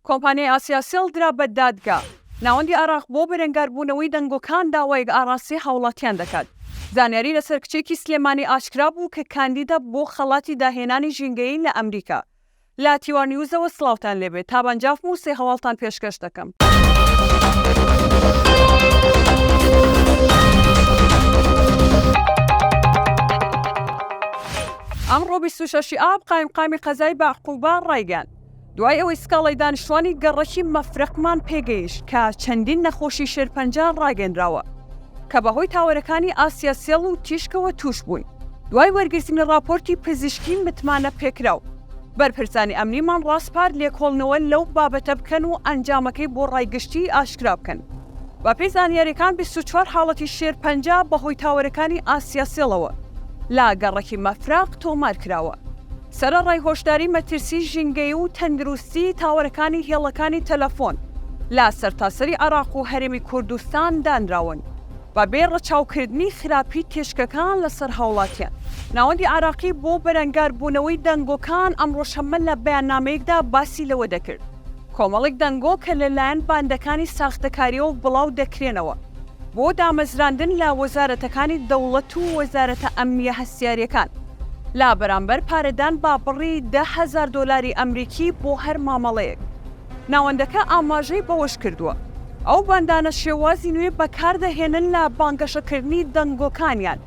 کۆمپانیای ئاسیاسێڵ درا بە دادگا. ناوەندی ئاراق بۆ بەرەنگاربوونەوەی دەنگۆکان داوایەک ئاڕاستەی هاوڵاتیان دەکات. زانیاری لەسەر کچێکی سلێمانی ئاشکرا بوو کە کاندیدە بۆ خەڵاتی داهێنانی ژینگەیی لە ئەمریکا. لە تیوا نیوزەوە سڵاوتان لێ بێت. تابان جافم و سێ هەواڵتان پێشکەش دەکەم. ئەمڕۆ بیست و شەش ی ئاب قایمقامی قەزای بەعقوبە ڕایگەیاند، دوای ئەوەی سکاڵای دانیشتوانی گەڕەکی مەفرەقمان پێگەیشت کە چەندین نەخۆشی شێرپەنجە ڕاگەنراوە کە بەهۆی تاوەرەکانی ئاسیا سێڵ و تیشکەوە تووشبوون، دوای وەرگرتنی ڕاپۆرتی پزیشکی متمانەپێکراو، بەرپرسانی ئەمنیمان ڕاسپارد لێکۆڵنەوە لەو بابەتە بکەن و ئەنجامەکەی بۆ ڕای گشتی ئاشکرا بکەن. بەپێی زانیارییەکان بیست و چوار حاڵەتی شێرپەنجە بەهۆی تاوەرەکانی ئاسیا سێڵەوە لە گەڕەکی مەفرەق تۆمارکراوە. سەرەڕای هۆشداری مەترسی ژینگەیی و تەندروستیی تاوەرەکانی هێڵەکانی تەلەفۆن لە سەرتاسەری عێراق و هەرێمی کوردستان دانراون، بە بێ ڕەچاوکردنی خراپیی تێچکەکان لەسەر هاوڵاتیان. ناوەندی عێراقی بۆ بەرەنگاربوونەوەی دەنگۆکان ئەمڕۆ شەممە لە بەیاننامەیەکدا باسی لەوە دەکرد، کۆمەڵێک دەنگۆ کە لەلایەن باندەکانی ساختەکارییەوە بڵاو دەکرێنەوە بۆ دامەزراندن لە وەزارەتەکانی دەوڵەت و وەزارەتە ئەمنییە هەستیارییەکان، لە بەرامبەر پارەدان بە بڕی دە هەزار دۆلاری ئەمریکی بۆ هەر مامەڵەیەک. ناوەندەکە ئاماژەی بەوەشکردووە، ئەو باندانە شێوازی نوێ بەکاردەهێنن لە بانگەشەکردنی دەنگۆکانیان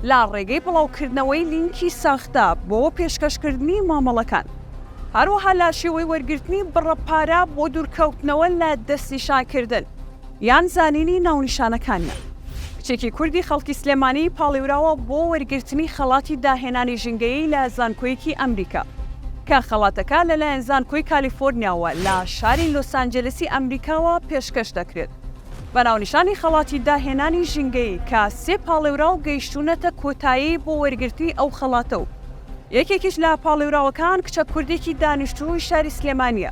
لە ڕێگەی بڵاوکردنەوەی لینکی ساختە بۆ پێشکەشکردنی مامەڵەکان، هەروەها لە شێوەی وەرگرتنی بڕە پارە بۆ دوورکەوتنەوە لە دەستنیشانکردن. یان زانینی ناونیشانەکانیان. کچێکی کوردی خەڵکی سلێمانی پاڵێوراوە بۆ وەرگرتنی خەڵاتی داهێنانی ژینگەیی لە زانکۆیەکی ئەمریکا، کە خەڵاتەکە لەلایەن زانکۆی کالیفۆرنیاوە لە شاری لۆسانجێلسی ئەمریکاوە پێشکەش دەکرێت بە ناونیشانی خەڵاتی داهێنانی ژینگەیی کە سێ پاڵێوراو گەیشتوونەتە کۆتایی بۆ وەرگرتنی ئەو خەڵاتە و یەکێکیش لە پاڵێوراوەکان کچە کوردێکی دانیشتووی شاری سلێمانییە.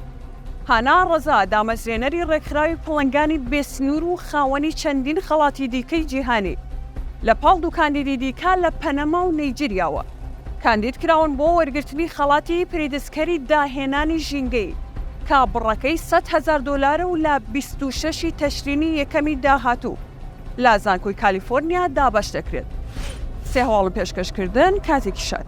هانا ڕەزا، دامەزرێنەری ڕێکخراوی پڵنگانی بێ سنوور و خاوەنی چەندین خەڵاتی دیکەی جیهانی، لە پاڵ دوو کاندیدی دیکە لە پەنەما و نەیجیریاوە، کاندید کراون بۆ وەرگرتنی خەڵاتی پریتزکەری داهێنانی ژینگەیی، کە بڕەکەی سەد هەزار دۆلارە و لە بیست و شەش ی تەشرینی یەکەمی داهاتوو لە زانکۆی کالیفۆرنیا دابەش دەکرێت. سێ هەواڵم پێشکەش کردن، کاتێکی شاد.